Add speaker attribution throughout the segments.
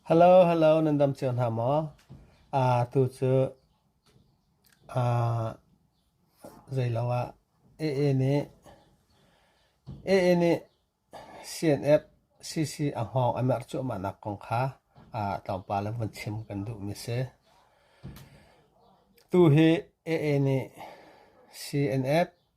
Speaker 1: Hello hello nan dam cio hna maw? Aa tu cu aa zeilo ah AA nih AA nih CNF CC a hngawng a merh cuahmahnak kong kha tlawmpal in vun chim kan duhmi a si. Tu hi AA nih CNF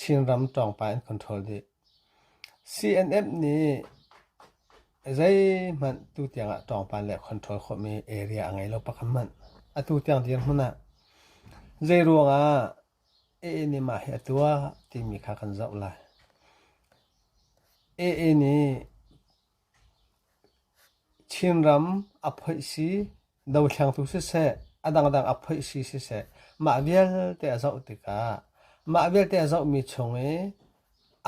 Speaker 1: Chinram ṭawngpa in control dih. CNF nih zeihmanh tutiang ah ṭawngpa le control khawhmi area a ngei lo bak an manh. Atu tiang dirhmun ah zeiruangah AA nih mah hi a tuah timi kha kan zoh lai. AA nih Thingram a phoih si, dothlengtu siseh, a dangdang a phoih si siseh, mah vialte a zoh tikah mah vialte a zohmi chung i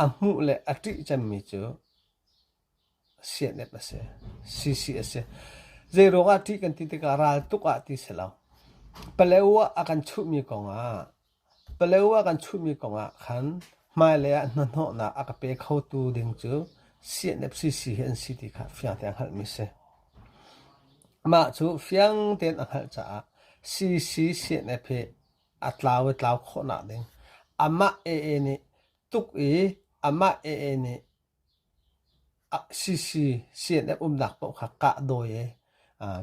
Speaker 1: a hmuh le a ṭih cemmi cu siahnep a si, sisi a si. Zeiruangah a ṭih kan ti tikah ral tuk ah ti si lo. Paleu ah a kan chuhmi kongah Palewa kan chuhmi kongah khan hmailei ah hnahnawhnak a ka pe khotu ding cu CNFCC hi an si ti kha fiang tein hngalhmi a si. Mah cu fiang tein a hngalh caah CDC CNF hi a tlau i tlau khawhnak ding amah AA nih tuk i amah AA nih CC CNF umnak paoh kha kah dawi i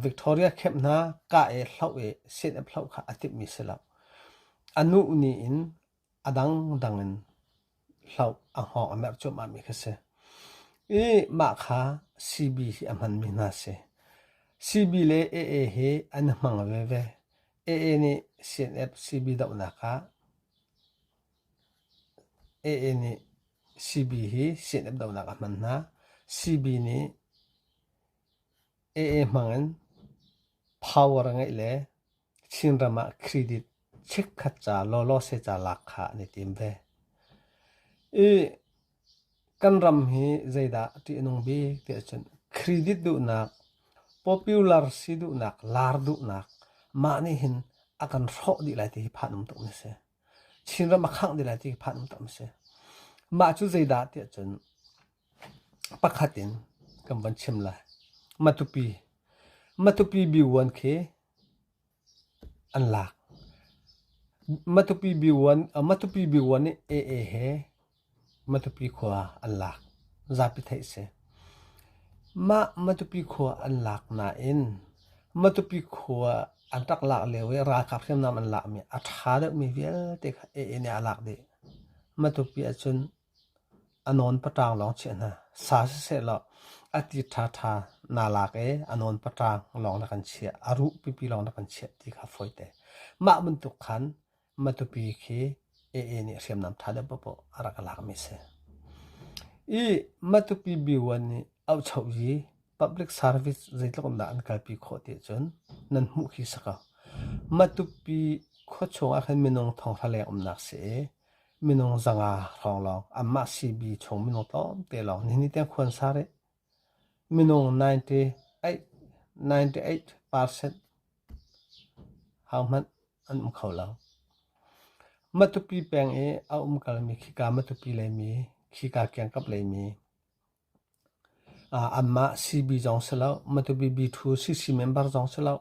Speaker 1: Victoria camp hna kah i hloh i CNF hloh kha a timhmi si lo. A nuh ni in a dangdang in hloh a hngawng a merh cuahmahmi kha si. I mah kha CB hi a hmanmi hna si. CB le AA hi an i hmang veve. AA nih CNF CB dohnak ah AA nih CB hi CNF dohnak a hman hna. CB nih AA hmangin power a ngeih le Chinram ah credit chikkhat ca lawlawse ca lak kha an i tim ve. I kan ram hi zeidah ṭih a nung bik ti ahcun credit duhnak, popular si duhnak, lar duhnak mah nih hin a kan hrawh dih lai ti hi phanum tuk mi a si. Chinram a khangh dih lai ti hi phanungtam a si. Mah cu zeidah tiah cun pakhat in kan van chim lai. Matupi. Matupi B1 khi an lak. Matupi B1, Matupi B1 nih AA he Matupi khua an lak. Zapi theih si. Mah Matupi khua an lak nain Matupi khua an rak lak lio i ralkap hriamnam an lakmi a ṭha deuhmi vialte kha AA nih a lak dih. Matupi ahcun a nawn paṭaang lawng chiah hna. Sa sisehlaw a ti ṭhaṭha naa lak i a nawn paṭaang lawng na kan chiah. A ruh pipi lawng na kan chiah ti kha fawi te. Mah bantuk khan Matupi khi AA nih hriamnam tha deuh popoh a rak lakmi a si. I Matupi B1 nih auhchoh i public service zeitluk in dah an kalpi khawh ti ahcun nan hmuh khi si ko. Matupi khua chung ah khin minung thonghra leng umnak si i minung zanga hrawng lawng anmah CB chung minung tlawmte lawng nihin ni tiang khua an sa rih. Minung ninety eight percent hohmanh an um kho lo. Matupi peng i a um kalmi khika Matupi leimi, khika kiangkap leimi anmah CB zong si lo, Matupi B2 CC member zong si lo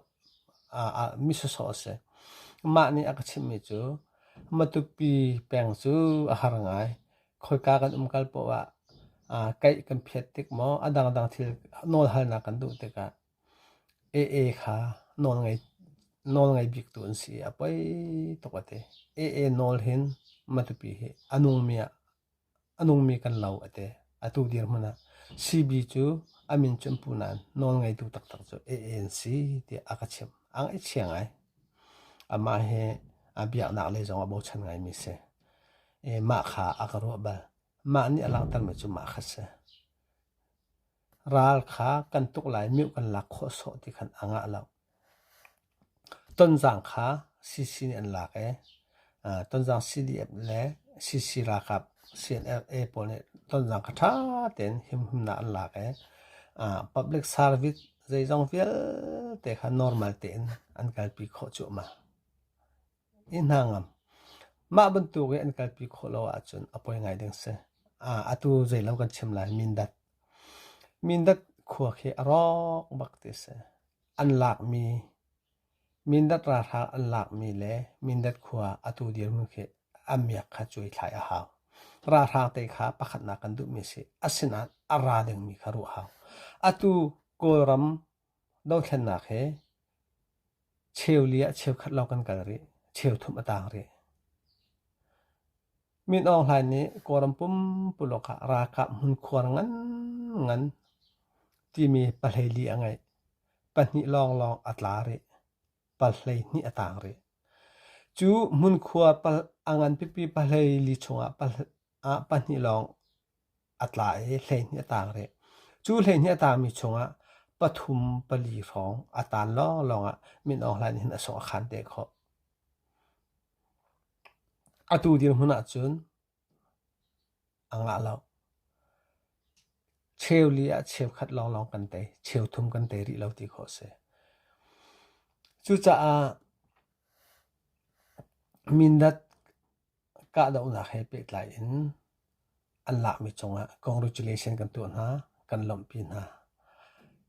Speaker 1: mi sawsawh a si. Mah nih a ka chimhmi cu Matupi peng cu a har ngai. khoika kan um kal poh ah aa kaih kan phiat tik maw a dangdang thil nawlhalnak kan duh tikah AA kha nawlngei nawlngei biktu an si i a poi tuk a ti. AA nawl hin matupi hi a nungmi ah a nungmi kan lo a ti. Atu dirhmun ah CB cu a min cu an pu nain nawlngeitu taktak cu AA an si tiah a ka chimh. A ngaihchiang ai. Amah hi a biaknak lei zong a bochan ngaimi a si. mah kha a ka ruah bal. Mah nih a langhtermi cu mah kha a si. Ral kha kan tuk lai, mioh kan lak khawh sawh ti khan a ngah lo. Tonzang kha CC nih an lak i tonzang CDF le CC ralkap CNLA pawl nih tonzang kha ṭha tein himhimnak an lak i public service zeizong vialte kha normal tein an kalpi khawh cuahmah. Mah bantuk i an kalpi khawh lo ahcun a poi ngai ding a si. Atu zeilo kan chim lai, Mindat. Mindat khua khi a rawk bak ti a si. An lakmi, Mindat ralhrang an lakmi le Mindat khua atu dirhmun khi a miak kha cuai thlai a hau. Ralhrang te kha pakhatnak kan duhmi a si. Asinain a ra dingmi kha ruah a hau. Atu Kawlram Dothlennak hi cheu li ah cheukhat lawng kan kal rih. Cheuthum a taang rih. Min Aung Hlain nih Kawlram pumpuluk ah ralkap hmunkhuar nganngan timi pahleili a ngeih. Pahnih lawnglawng a tla rih. Pal hleihnih a taang rih. Cu hmunkhuar a ngan pipi pahleili chungah ah pahnih lawng a tla i hleihnih a taang rih. Cu hleihnih a taangmi chungah pathum pali hrawng a taan lawnglawng ah Min Aung Hlaing nih hin a sung a khan te khawh. Atu dirhmun ahcun a ngah lo. Cheu li ah cheukhat lawnglawng kan tei, cheu thum kan tei rih lo ti khawh a si. Cucaah Mindat Kahdohnak he pehtlai in an lakmi cungah congratulation kan tuah hna, kan lawmhpi hna.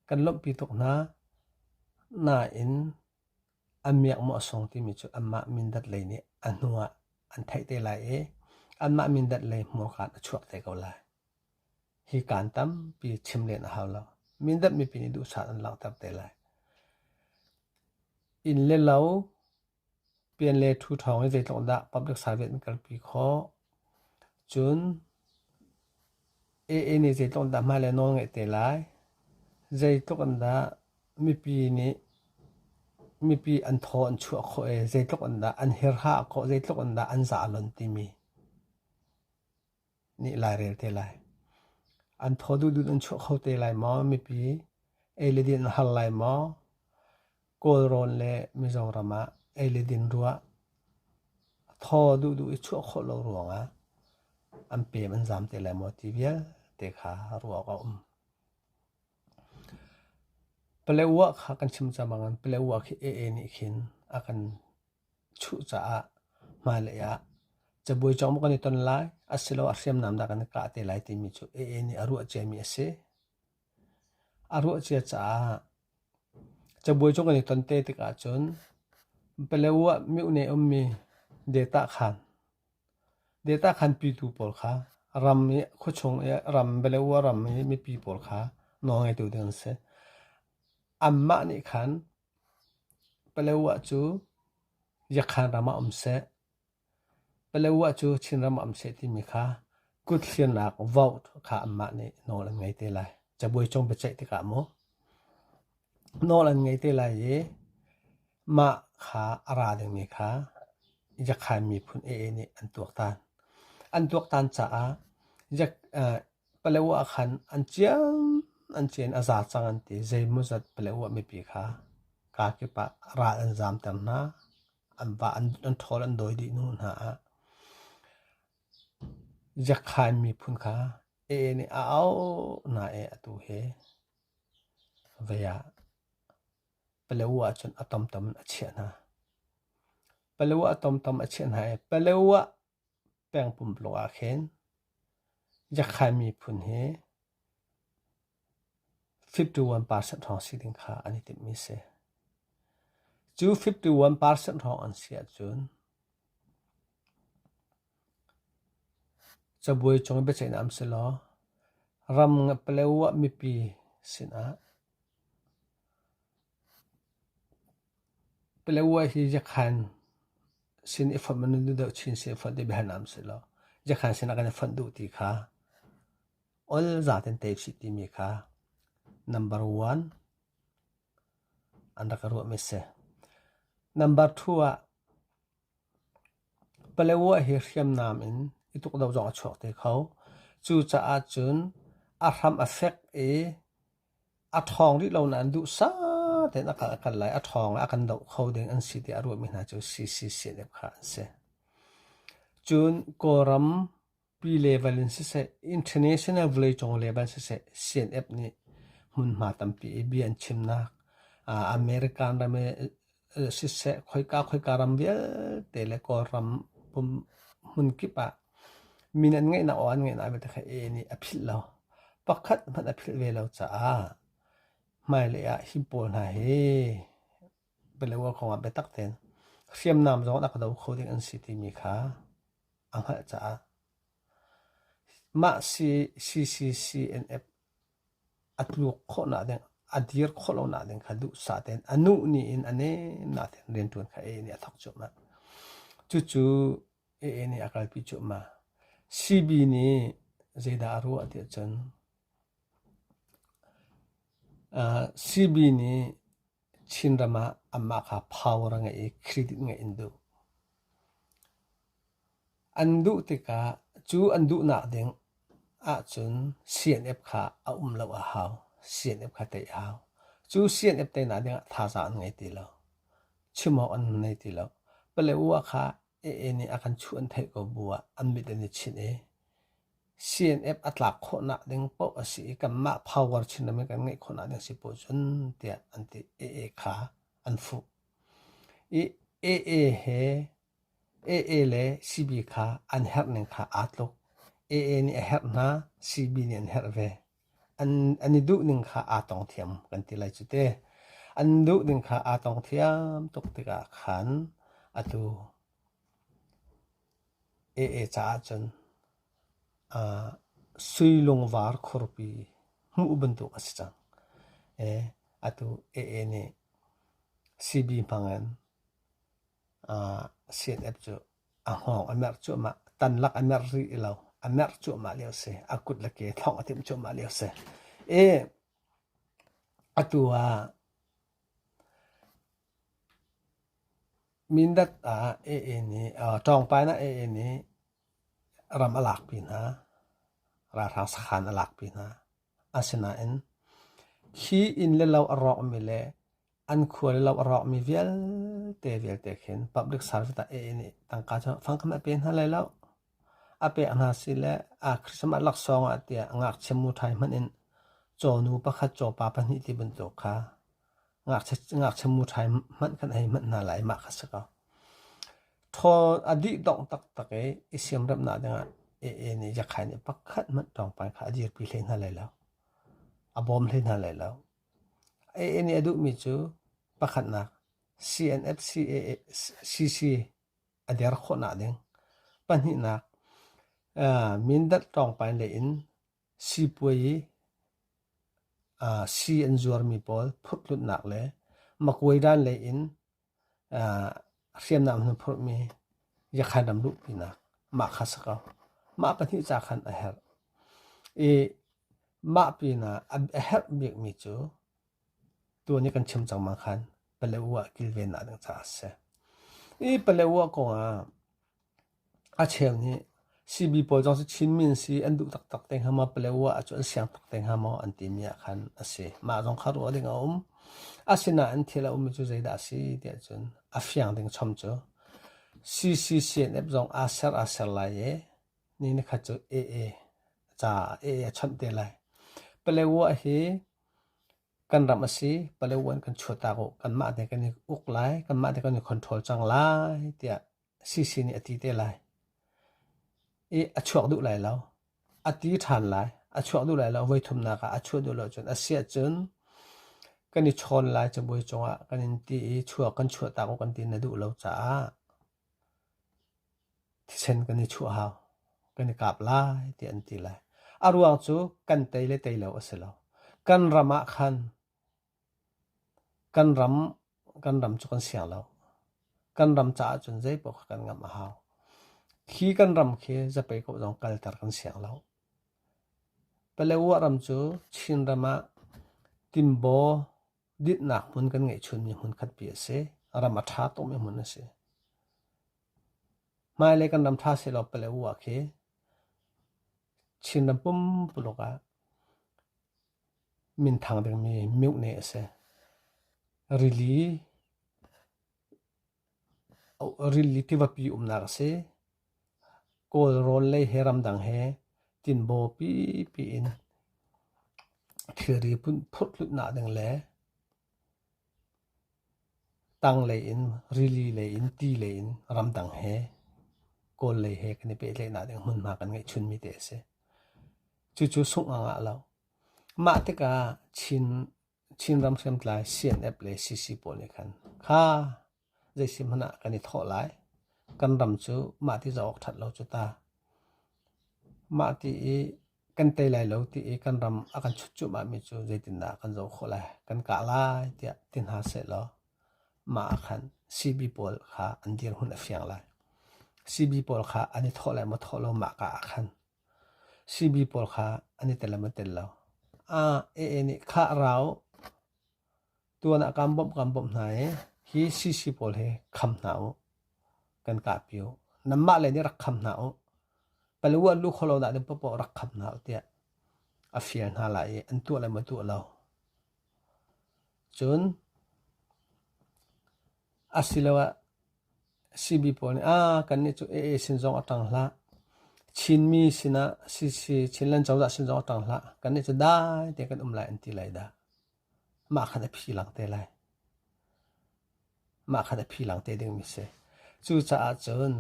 Speaker 1: Kan lawmhpi tuk hna. Nain an miakmawh sung timi cu anmah mindat lei nih a hnu ah an theih te lai i anmah mindat lei hmurkaan a chuak te ko lai. Hi kaan tampi chim len a hau lo. Mindat mipi nih duhsah an langhter te lai. Inn le lo Pian le ṭhu ṭhawng i zeitluk dah public service an kalpi khawh. Cun AA nih zeitluk dah hmai le nawl ngeih te lai. Zeitluk in dah mipi nih mipi an thaw an chuah khawh i zeitluk in dah an hirha khawh, zeitluk in dah an zah a lon timi. nih lai rel te lai. An thaw duhdut an chuah kho te lai maw mipi? Ei le din a har lai maw? Kawlrawn le Mizo ram ah ei le din ruah a thaw duhduh i chuah khawh lo ruangah an peem an zaam te lai maw ti vialte kha ruak a um. Pale uah kha kan chim cang bang in pale uah khi ee nih khin a kan Cucaah hmailei ah cabuai cawng maw kan i ton lai asiloah hriamnam dah kan i kah te lai timi cu AA nih a ruah ciami a si. A ruah cia caah cabuai cawng kan i ton te tik ahcun paleo ah mihne ummi data khan data khan pitu pawl kha ram i khuachung i ram paleo ah ram i mipi pawl kha nawlngeitu ding an si. Anmah nih khan Paletwa cu Yakhan ram ah um seh, Paletwa cu Chinram ah um seh timi kha kutthlinak vote kha anmah nih nawl an ngei te lai. Cabuai cung biaceih tikah maw nawl an ngei te lai i mah kha a ra dingmi kha Yakhan miphun ee nih an tuaktan. An tuaktan caah Yak- Paleo ah khan an cian an cian a za cang an ti. Zeimawzat paleo ah mipi kha kaa kip ah ral an zamter hna. An vah, an ṭhawl an dawi dih hnu hna ah ziakhain miphun kha ee nih a auh hna i atu hi vei ah paleo ah cun a tomtom in a chiah hna. Paleo ah tomtom a chiah hna i paleo ah Pengpumpung ah khin Yakhan miphun hi fifty one percent hrawng si ding kha an i timhmi a si. Cu fifty one percent hrawng an si ahcun cabuai cung i biaceihnak um si law ram Paletwa mipi sinah Palawa hi Yakhan sin i fonh a nun deuh chin sin i fonh ti biahan ah um sih law, Yakhan sin ah kan i fonh duh ti kha ol zaten tei usih timi kha number one an rak i ruahmi a si. Number two ah Palawa hi hriamnam in i tukdo zong a chuak te kho. Cucaah cun a hram a fek i A ṭhawng rih lo nain duhsah tein a kal a kal lai. A ṭhawng le a kan doh kho ding an si tiah a ruahmi hna cu CCC deuh kha an si. Cun Kawlram pi level in siseh, international vawleicung level siseh, CNF nih hmunhma tampi i bia an chimnak, American ram i siseh khoika khoika ram vialte le Kawlram pum hmun kip ah min an ngeihnak aw an ngeihnak vialte kha e nih a philh lo. Pakhat hmanh a philh ve lo caah hmailei ah hi pawl hna hi bialua kong ah biatak tein hriamnam zong rak do kho ding an si timi kha a hngalh caah mah CCCNF a tluk khawh nakding, a dir khawh lo nakding kha duhsah tein a nuh ni in a nem nakding rianṭuan kha Eni a thawk cuahmah. Cucu Eni a kalpi cuahmah. Sibi nih zeidah a ruah tiah cun, sibi nih Chinram ah amah kha power a ngei i credit ngeih an duh. An duh tikah cu an duhnak ding ahcun CNF kha a um lo a hau. CNF kha tei a hau. Cu CNF teinak dingah thazaang an ngei ti lo. Chim awk an nei ti lo. Pale ua kha AA nih a kan chuh an theih ko bu ah an mit an i chinh i CNF a tlak khawhnak ding paoh a si i kanmah power chinram i kan ngeih khawhnak ding si paoh cun tiah an ti AA kha an fuh i AA he AA le CB kha an herh ning kha aa tluk AA nih a herh hna CB nih an herh ve an i duh ning kha aa tong thiam kan ti lai cu te. An duh ning kha aa tong thiam tuk tikah khan atu ee caah cun uh, suilungvar khurpi hmuh bantuk a si cang. Eh, atu ee nih CB hmang in uh, CNF cu A hngawng a merh cuahmah. Tan lak a merh rih i lo. A merh cuahmah lio a si. A kut le ke thlawng a timh cuahmah lio a si. I atu ah Mindat ah AA nih Ṭawngpai in AA nih ram a lak pi hna. Ralhrang sakhan a lak pi hna. Asinain hi inn le lo a rawkmi le an khua le lo a rawkmi vialte vialte khin public service ah a inn i tangka cu fangkhat a pe hna lai lo. A pek hna sile aa Christmas laksawng ah tiah ngakchia muṭhai hmanh in cawnu pakhat, cawpa pahnih ti bantuk kha ngakchia muṭhai hmanh kan hei manh hna lai, mah kha si ko. Ṭhawn a dih dongh taktak i i siamremhnak dingah ee nih Jakhai nih pakhat hmanh ṭawngpai kha a dirpi hlei hna lai lo. A bawm hlei hna lai lo. Ee nih a duhmi cu pakhatnak CNFC CC a der khawhnak ding. Pahnihnak, Mindat ṭawngpai le in Sipuai ah sii an zuarmi pawl phurhhlutnak le makuaidan lei in hriamnam an hun phurhmi yakhainam luhpinak mah kha a si ko. Mah pahnih ca khan a herh i mah pinah a herh bikmi cu tuan i kan chim cangmang khan Paletwa kilvennak ding caah a si. Hi Paletwa kongah A cheu nih sibi pawl zong si chinmi an si an duh taktak te hnga maw paleo ah cu an siang tuk te hnga maw an timi ah khan a si. Mah zong kha ruah ding a um. Asinain thil a ummi cu zeidah a si ti ahcun a fiang ding chom cu CCCNF zong aa ser aa ser lai i ni nikhat cu AA ca AA a chawnh te lai. Paleo ah hi kan ram a si. Paleo in kan chuah taak u. Kanmah te kan i uk lai. Kanmah te kan i control cang lai tiah Sisi nih a ti te lai. I a chuak duh lai lo. A ti ṭhan lai. A chuak duh lai lo. Voi thumnak ah a chuah duh lo cun a si ahcun kan i chawn lai cabuai cungah kan in ti i chuak kan chuahtak u kan ti na duh lo caah thisen kan i chuah hau. Kan i kap lai ti an ti lai. A ruang cu kan tei le tei lo a si lo. Kan ram ah khan Kan ram, kan ram cu kan siang lo. Kan ram caah cun zeipaoh kha kan ngamh a hau. Hi kan ram khi zapei ko zong kalter kan siang lo. Paletwa ram cu Chin ram ah tinbaw dinhnak hmun kan ngeih chunmi hmun khatpi a si. Ram a ṭha tukmi hmun a si. Hmailei kan ram ṭha sehlaw Paletwa khi Chin ram pumpuluk ah Minthang dingmi miuhne a si. Rili, rili tivapi umnak a si. Kawl rawl lei he ramdang he tinbaw pipi in thilri phurhhlutnak ding le Tanglei in, rili lei in, ti lei in, ramdang he, kawl lei he kan i pehtlaihnak ding hmunhma kan ngeihchunmi te a si. Cucu sungh a ngah lo. Mah tikah Chin, Chinram hriamtlai CNF le CC pawl nih khan, kha Zeisih hmanh ah kan i thawh lai. Kan ram cu mah ti zoh awk ṭhat lo cu ta. Mah ti i kan tei lai lo ti i kan ram a kan chut cuahmahmi cu zeitindah kan zoh khawh lai? Kan kah lai tiah ti hna sehlaw mah ah khan CB pawl kha an dirhmun a fiang lai. CB pawl kha an i thawh lai maw thawh lo mah ka ah khan CB pawl kha an i tel le maw tel lo. AA nih khah ra u. tuan ah kaan bawmh kaan bawmh hna i hi sisi pawl hi kham hna u kan kahpi u nanmah le nih rak kham hna u paluat lu kholo dah tin popoh rak kham hna u tiah a fial hna lai i an tuah le ma tuah lo cun asiloah CB pawl nih ah kannih cu AA sin zong a ṭang hlah Chinmi sinah CC Chinland cozah sin zong a ṭang hlah kannih cu dai te kan um lai an ti lai dah mah khan a phi lang te lai. Mah khan a phi lang te dingmi si. Cucaah cun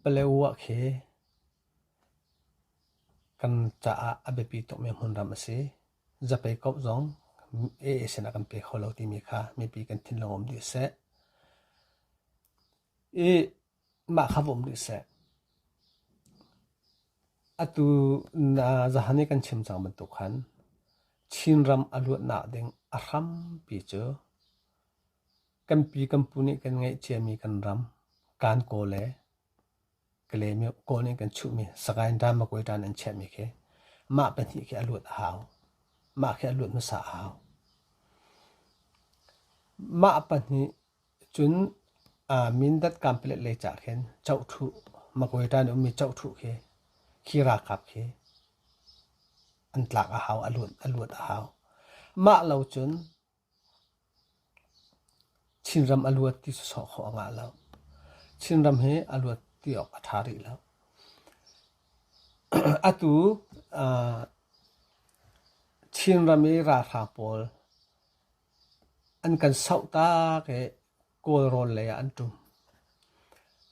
Speaker 1: Palewa khi kan caah a biapi tukmi hmun ram a si. Zapei kaup zong AA sinah kan pe kho lo timi kha mipi kan thinlung um dih seh. I Mah kha va um rih seh. Atu na zahan i kan chim cang bantuk khan Chinram a luatnak ding a hrampi cu kan pi kan pu nih kan ngeih ciami kan ram kaan kawl le Kalemi kawl nih kan chuhmi Sagaing dan Magway dan an chiahmi khi mah pahnih khi a luat a hau. Mah khi a luat hmasa a hau. Mah pahnih Cun Mindat Kanpalet lei cah khin Chohthlu Magwaydan i ummi Chohthlu khi khi ralkap khi an tlak a hau, a luat a hau. Mah lo cun Chinram a luat ti sawsawh khawh a ngah lo. Chinram hi a luat ti awk a ṭha rih lo. Atu Chinram i ralhrang pawl An kan sauh tak i Kawlrawn lei ah an ṭum.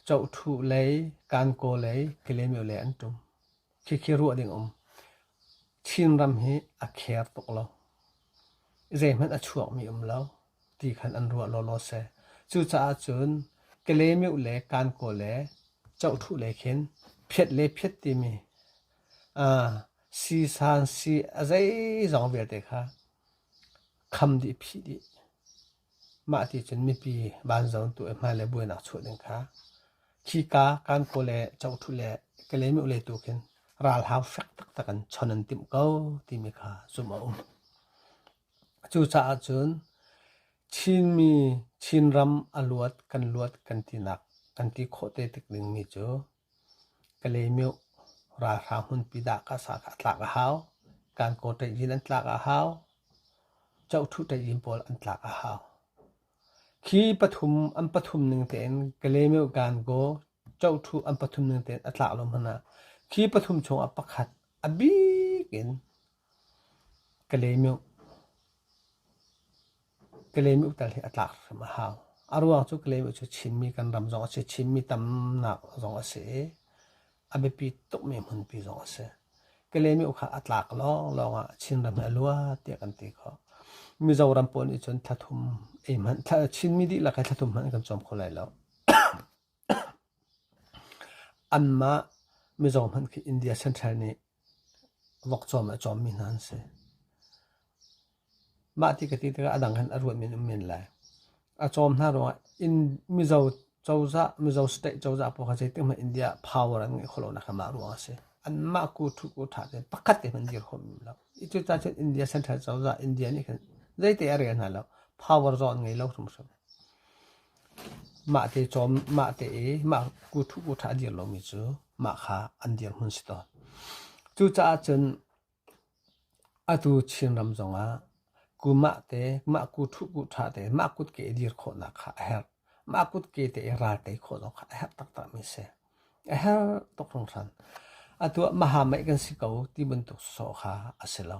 Speaker 1: Cohthuh lei, Kankaw lei, Kalaymyo lei an ṭum. Khikhi ruah ding a um. Chinram hi a kher tuk lo. Zeihmanh a chuakmi um lo, ti khan an ruah lawlaw seh. Cucaah cun Kalaymyo le Kankaw le Cohthuh lei khin phiat le phiat timi aa, sii-san, sii a zeizong vialte kha Kham dih phih dih. Mah ti cun mipi vanzong tu i hmai le buainak chuah ding kha khika kan kaw le cohṭhu le kalaymyo le tu khin ralhau fek taktak in chon an timh ko timi kha zumh a um. Cucaah cun Chinmi Chinram a luat kan luat kan tinak kan ti khawh te tik ding mi cu Kalemyo ralhrang hmunpi dah tlak a hau. Kankaw tlaih in an tlak a hau. Chohthu tlaih in pawl an tlak a hau. Khi pathum an pathum ning tein Kalemyo Kankaw chohthu an pathum ning tein a tlak lo hmanh ah khi pathum chung ah pakhat a bik in Ka leemih tal hi a tlak hrim a hau. A ruang cu ka leemih cu Chinmi kan ram zong a si. Chinmi tamnak zong a si i a biapi tukmi hmunpi zong a si. Ka leemih kha a tlak lawnglawng ah Chinram hi a lua tiah kan ti khawh. Mizoram pawl nih cun thathum ei hmanh, Chinmi dihlak he thathum hmanh an kan cawm kho lai lo. Anmah mizo hmanh khi India Central nih Vok cawm le cawmmi hna an si. Mah ti ka ti tikah a dang hin a ruat men um men lai. A cawm hna ruangah in Mizo cozah, Mizo state cozah pawl kha zeitik hmanh India ah power an ngei kho lonak mah ruangah a si. Anmah ku ṭhu ku ṭha te pakhat te hmanh dir kho men lo. Itu ca cun India Central cozah, India nih khin zeite a rel hna lo. Power zong an ngei lo hrimhrim. Mah te i mah kuthup kutha a dir lomi cu mah kha an dirhmun si tawn. Cucaah cun atu Chinram zongah kumah te, mah kuthup kutha te, mah kutke i dir khawhnak kha a herh. Mah kutke te i ralte khawh zong kha a herh taktakmi a si. A herh tuk hringhran. Atu ah mahamaih kan si ko ti bantuk sawh kha a si lo.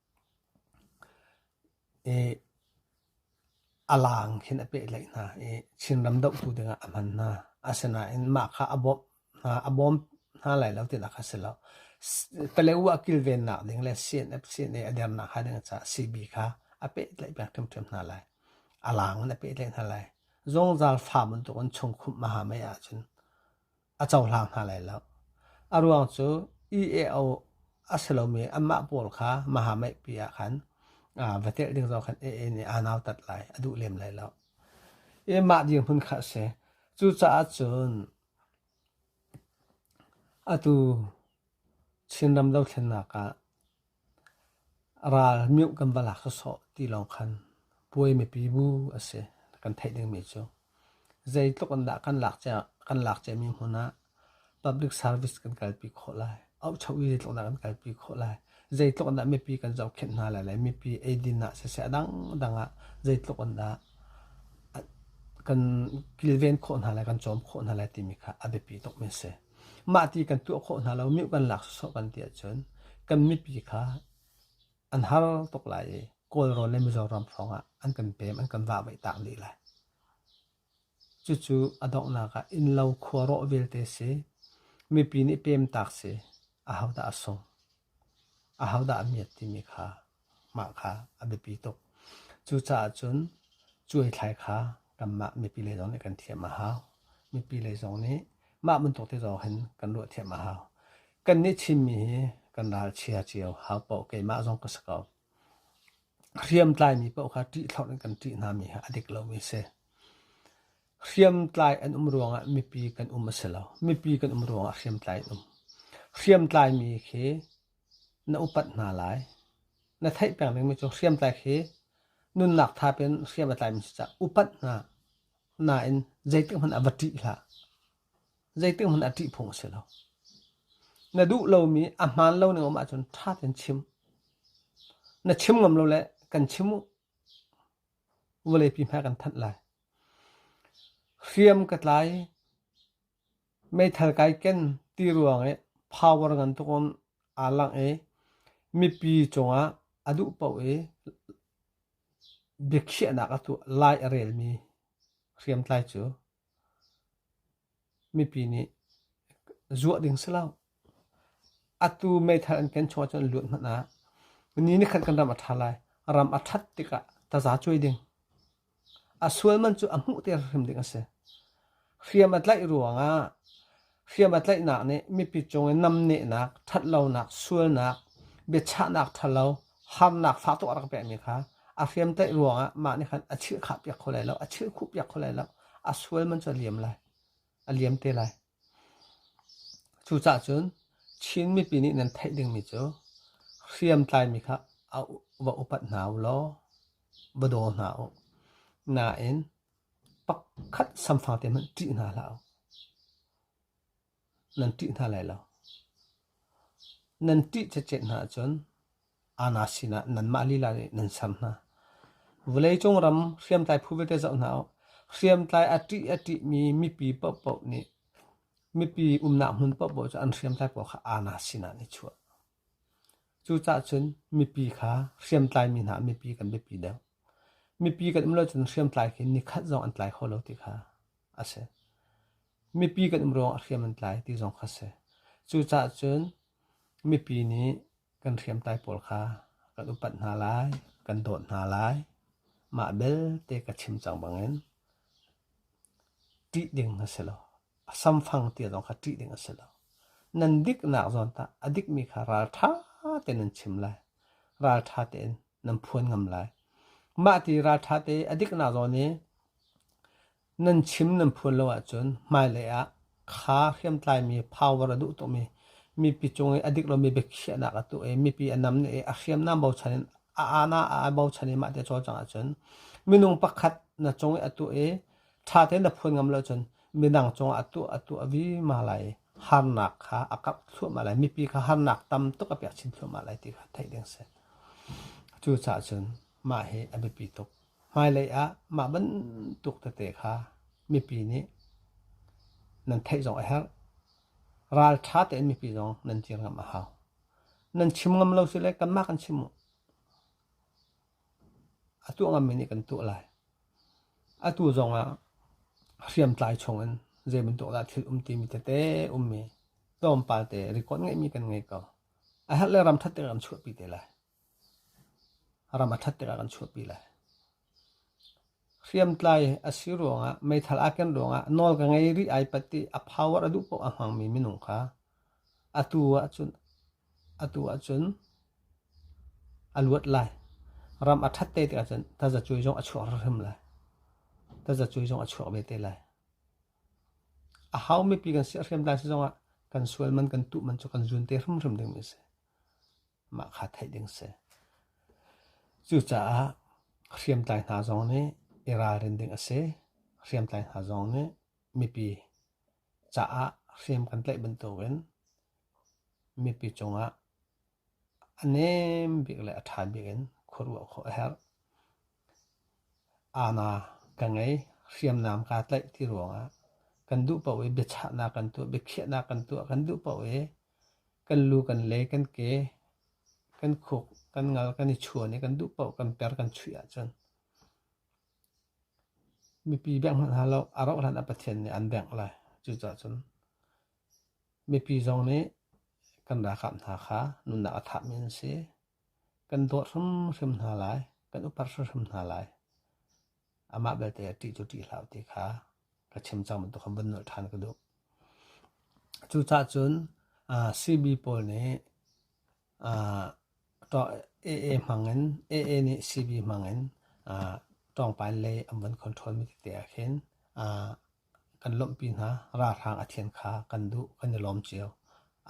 Speaker 1: A laang khin a pehtlaih hna i Chinram dohtu dingah a hman hna. Asinain mah kha a bawmh hna, a bawm hna lai lo tinak kha si lo. Paleu ah kilvennak ding le CNF, CNA a dernak hnga ding caah CB kha a pehtlaih peng hrimhrim hna lai. A laang in a pehtlaih hna lai. Zungzal fa bantukin chungkhumh a ha mei ahcun a cohlang hna lai lo. A ruang cu EAO a si lomi anmah pawl kha mahamaihpi ah khan va telh ding zong khan AA nih aa nautat lai, a duh lem lai lo. I mah dirhmun kha a si. Cucaah cun atu Chin ram dothlennak ah Ral mioh kan va lak sawsawh ti lawng khan puai mipi bu a si kan theih dingmi cu. Zeitluk in dah kan lak cia, kan lak ciami hmun ah public service kan kalpi khawh lai, auhchoh i zeitluk in dah kan kalpi khawh lai, zeitluk in dah mipi kan zohkhenh hna lai lai, mipi eidin ah siseh dangdang ah zeitluk in dah kan kilven khawh hna lai, kan cawm khawh hna lai timi kha a biapi tukmi a si. mah ti kan tuah khawh hna lo mi kan lak sawsawh kan ti ahcun kan mipi kha an har tuk lai i kawlrawn le mizoram hrawngah an kan pem an kan vahvaih tak dih lai cucu a donghnak ah innlo khua rawh vialte si mipi nih pem tak si a hodah a sung a hodah a miat timi kha Mah kha a biapi tuk. Cucaah cun cuaithlai kha kanmah mipi lei zong nih kan thiam a hau. Mipi lei zong nih mah bantuk te zong hin kan ruah thiam a hau. Kannih Chinmi hi kan ral chia cio hau paoh keimah zong ka si ko. Hriamtlaimi paoh kha ṭihthlorh in kan ṭih hngami hi a dik lomi a si. Hriamtlai an um ruangah mipi kan um a si lo. Mipi kan um ruangah hriamtlai an um. Hriamtlaimi khi na upat hna lai. Na theih pengmi mi cu hriamtlai khi nunnak tha in hriam a tlaimi si caah upat hna nain zeitik hmanh ah va ṭih hlah. Zeitik hmanh ah ṭih phung a si lo. Na duh lomi a hmaan lo ning um ahcun ṭha tein chim. Na chim ngam lo le kan chim u. Vawleipi hmai kan thanh lai. Hriam ka tlai, Meithal kai ken ti ruang i power ngantuk um aa langh i mipi cungah a duh paoh i biakhiahnak a tuah lai a relmi hriamtlai cu mipi nih zuah ding si lo. Atu meithal an ken chung ahcun an lut hmanh ah ni nikhat kan ram a ṭha lai. Ram a ṭhat tikah taza cuai ding. A sual man cu a hmuhter hrim ding a si. Hriam a tlaih ruangah hriam a tlaihnak nih mipi cungin namnehnak, ṭhatlonak, sualnak, biachahnak ṭhalo, harnak fa tuk a rak pekmi kha a hriam tlaih ruangah mah nih khan a chirhkhahpiak kho lai lo, a chirhkhuhpiak kho lai lo. A sual man cu a liam lai, a liam te lai. Cucah cun Chin mipi nih nan theih dingmi cu hriamtlaimi kha va upat hna u law va daw hna u. Nain pakhat samfang te hmanh ṭih hna hlah u. Nan ṭih hna lai lo. Nan ṭih cecet hna ahcun ana sinah nanmah lila nih nan sam hna. Vawleicung ram hriamtlai phu vialte zoh hna u. Hriamtlai a ṭih a ṭihmi mipi paohpaoh nih mipi umnak hmun paohpaoh cu an hriamtlai paoh kha ana sinah an i chuah. Cucaah cun mipi kha hriamtlaimi hna mipi kan biapi deuh. Mipi kan um lo cun hriamtlai khi nikhat zong an tlai kho lo ti kha a si. Mipi kan um ruangah hriam an tlai ti zong kha a si. Cucaah cun mipi nih kan hriamtlai pawl kha kan upat hna lai, kan dawt hna lai. Mah belte ka chim cang bangin ṭih ding a si lo. a samfang tia zong kha ṭih ding a si lo. Nan diknak zawn tah a dikmi kha ralṭha tein nan chim lai. Ralṭha tein nan phuan ngam lai. Mah ti ralṭha te a diknak zawn i nan chim nan phuan lo ahcun hmailei ah kha hriamtlaimi power a duh tukmi mipi cung i a dik lomi biakhiahnak a tuah i mipi a nam i a hriamnam bochan in a ana a bochan i mah ti a cawlcang ahcun minung pakhat na cung i a tuah i ṭha tein na phuan ngam lo cun midang cungah a tuah a tuah vima lai i harnak kha a karh thluahmah lai mipi kha harnak tam tuk a pek chin thluahmah lai ti kha theih ding si cucaah cun mah hi a biapi tuk hmailei ah mah bantuk tete kha mipi nih nan theih zong a herh ralṭha tein mipi zong nan dir ngam a hau nan chim ngam lo si le kanmah kan chim u A tuahngammi nih kan tuah lai. Atu zongah hriamtlai chungin zeibantuk dah thil um timi tete ummi tlawmpal te record ngeihmi kan ngei ko. A herh le ram ṭhat tikah kan chuahpi te lai. Ram a ṭhat tikah kan chuahpi lai. Hriamtlai a si ruangah meithal aa ken ruangah nawl ka ngei rih ai pat i a power a duh paoh a hmangmi minung kha atu ahcun atu ahcun a luat lai. Ram a ṭhat te tikah cun tazacuai zong a chuak hrimhrim lai. Tazacuai zong a chuak ve te lai. A hau mipi kan si a hriamtlai si zongah kan sual man, kan tuh man cu kan zun te hrimhrim dingmi a si. mah kha theih ding si. Cucaah hriamtlai hna zong nih i ralrin ding a si. Hriamtlai hna zong nih mipi caah hriam kan tlaih bantukin mipi cungah a nem bik le a ṭha bik in khuaruah khawh a herh. Ana ka ngei hriamnam kaa tlaih ti ruangah kan duh paoh i biachahnak kan tuah, biakhiahnak kan tuah kan duh paoh i Kan lu kan le kan ke, kan khuk, kan ngal kan i chuan i kan duh paoh kan per kan chuih ahcun mipi bengh hmanhah lo a rauh hlan ah Pathian nih an bengh lai. Cucaah cun mipi zong nih kan ralkap hna kha nunnak a thapmi an si. Kan dawt hrimhrim hna lai, kan upat hrimhrim hna lai. Amah belte a ṭih cu ṭih hlah u ti kha ka chim cang bantuk khan vun nolh ṭhan ka duh. Cucah cun CB pawl nih AA hmangin AA nih CB hmangin ṭawngpai lei an vun controlmi tete ah khin kan lawmhpi hna. Ralhrang a thian kha kan duh, kan i lawm cio.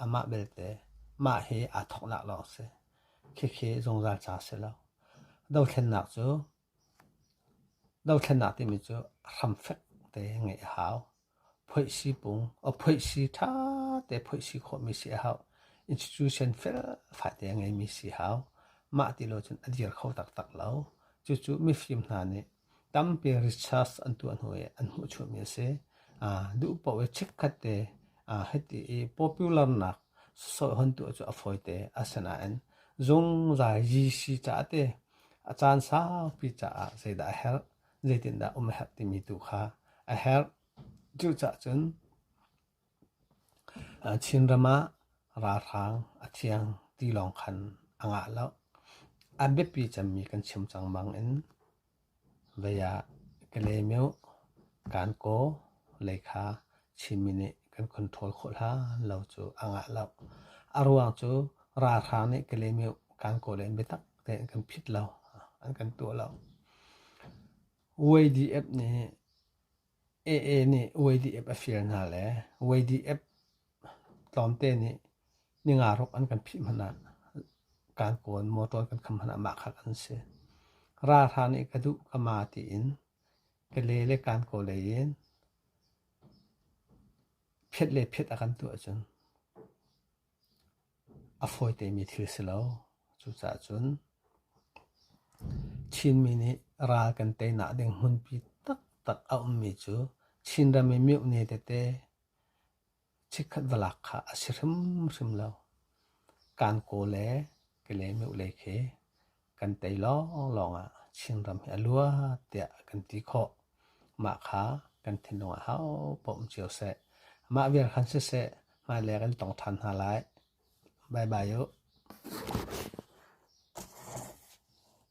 Speaker 1: Amah belte mah hi aa thawknak lawng a si. Khikhi zungzal ca a si lo. Dothlennak cu Dothlennak timi cu hramfek te ngeih a hau. Phoih sipung, phoih si ṭha te phoih si khawhmi si a hau. Institution felfai te a ngeimi si a hau. Mah ti lo cun a dir kho taktak lo. Cucu mifim hna nih tampi research an tuah hnu i an hmuhchuhmi a si. Duh paoh i chikkhat te hiti i popularnak sawsawih hon tuah cu a fawi te. Asinain zungzal GC caah te A caan saupi caah zeidah a herh, zeitindah um a herh timi tu kha a herh. Cuca'h cun Chinram ah ralhrang a thiang ti lawng khan a ngah lo. A biapi cemmi kan chim cang bangin vei ah Kalaymyo, Kankaw, Lekha, Chinmi nih kan control khawh hlan lo cu a ngah lo. A ruang cu ralhrang nih Kalaymyo, Kankaw le biatak te an kan phit lo, an kan tuah lo. YDF nih AA nih YDF a fir hna le YDF tlawmte nih ningaruk an kan phih hmanh ah Kankawn motor kan kham hmanh ah mah khat an si. Ralhra nih ka duh ka ma tiin Kale le Kankaw lei in phet le phet a kan tuah cun. A fawitemi thil si lo. Cucaah cun Chinmi nih ral kan teinak ding hmunpi taktak a ummi cu Chinram i miohne tete chikkhat va lak kha a si hrimhrim lo. Kan kaw le Kale miohlei khi Kan tei lawnglawng ah Chinram hi a luat tiah kan ti khawh. Mah kha kan thinlung ah hau poh um cio seh. Mah vial khan siseh, hmailei kan tong than hna lai. Bye bye u.